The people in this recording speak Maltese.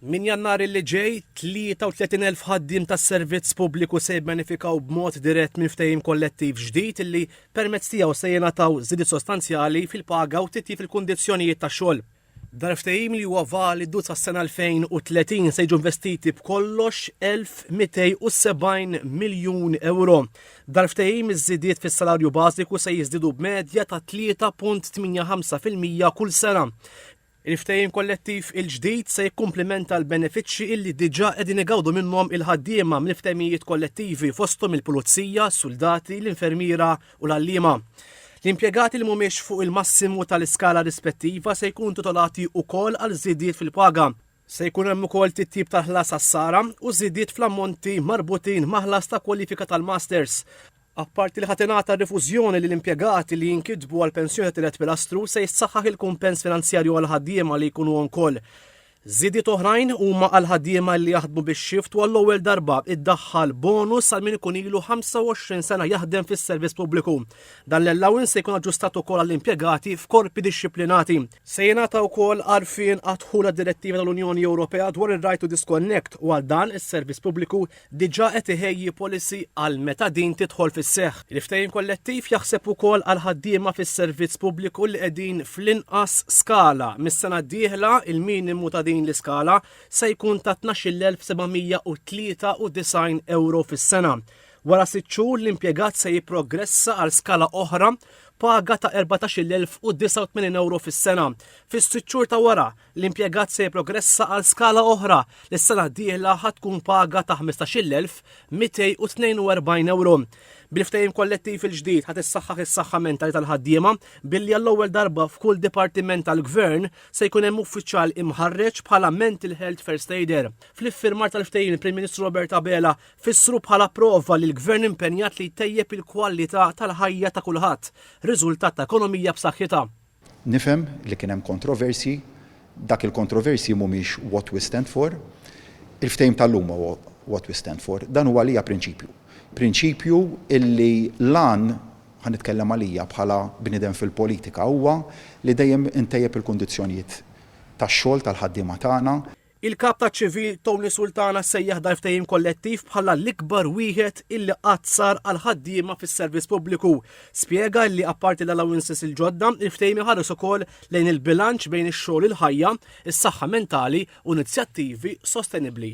Minn Jannar li ġej, 33,000 ħaddiem tas-servizz pubbliku se jibbenefikaw b'mod dirett minn ftehim kollettiv ġdid li permezz tiegħu se jingħataw żidiet sostanzjali fil-paga u titjib fil-kundizzjonijiet tax-xogħol. Dal-ftehim li huwa validu sas-sena 2030 se jiġu investiti b'kollox 1,270 miljun ewro. Dal-ftehim iż-żidiet fis-salarju bażiku se jiżdiedu b'medja ta' 3.85 fil-mija kull sena. Il-ftehim kollettiv il-ġdid se jikkumplimenta l-benefiċċji illi diġà qegħdin igawdu minnhom il-ħaddiema mill-ftehimijiet kollettivi fosthom il-pulizija, suldati, l-infermiera u l-għalliema. L-impjegati li mhumiex fuq il-massimu tal-iskala rispettiva se jkunu titolati ukoll għal żidiet fil-paga. Se jkun hemm ukoll titjib tal-ħlas għas-sara u żidiet fl-ammonti marbutin ma' ħlas ta' kwalifika tal-masters. Apparti li ħa tingħata rifużjoni lil impjegati li jinkitbu għal pensjoni ta' tielet pilastru, se jissaħħaħ il-kumpens finanzjarju għall-ħaddiema li jkunu on call. Żidiet oħrajn huma għall-ħaddiema li jaħdmu bix-xift u għall-ewwel darba iddaħħal bonus għal min ikun ilu 25 sena jaħdem fis-servizz pubbliku. Dan l-allowance se jkun aġġustat ukoll għall-impjegati f'korpi dixxiplinati. Se jingħata wkoll għarfien għad-dħul għad-Direttiva tal-Unjoni Ewropea dwar ir-Right to Disconnect u għal dan is-Servizz Pubbliku diġà qed iħejji policy għal meta din tidħol fis-seħħ. Il-ftehim kollettiv jaħseb ukoll għall-ħaddiema fis-Servizz Pubbliku li qegħdin fl-inqas skala. Mis-sena d-dieħla, il-minimu ta' din l-iskala se jkun ta' 12,793 ewro fis-sena. Wara sitt xhur l-impjegat se jipprogressa għal skala oħra paga ta' 14,089 euro fis-sena. Fis-sitt xhur ta' wara, l-impjegat se jipprogressa għal skala oħra li s-sena d-dieħla ħa tkun paga ta' 15,242 euro. Bil-ftehim kollettiv il-ġdid ħad issaħħaħ is-saħħa mentali tal-ħaddiema billi għall-ewwel darba f'kull dipartiment tal-gvern se jkun hemm uffiċjal imħarreġ bħala mental health first aider. Fl-iffirmar tal-ftehim il-Prim Ministru Robert Abela Fissru bħala prova li l-Gvern impenjat li jtejjeb il-kwalità tal-ħajja ta' kulħadd, riżultat ta' ekonomija b'saħħitha. Nifhem li kien hemm kontroversji. Dak il-kontroversji mhumiex what we stand for. Il-ftehim tal-lum huwa what we stand for. Dan huwa għalija prinċipju. Prinċipju illi l-għan, ħa nitkellem għalija bħala bniedem fil-politika, huwa li dejjem intejjeb il-kundizzjonijiet tax-xogħol tal-ħaddiema tagħna. Il-Kap taċ-Ċivil Tony Sultana sejjaħ dal-ftehim kollettiv bħala l-ikbar wieħed illi qatt sar għall-ħaddiema fis-servizz pubbliku. Spjega illi apparti l-allowances il-ġodda, il-ftehim iħares ukoll lejn il-bilanċ bejn ix-xogħol u l-ħajja, is-saħħa mentali u inizjattivi sostenibbli.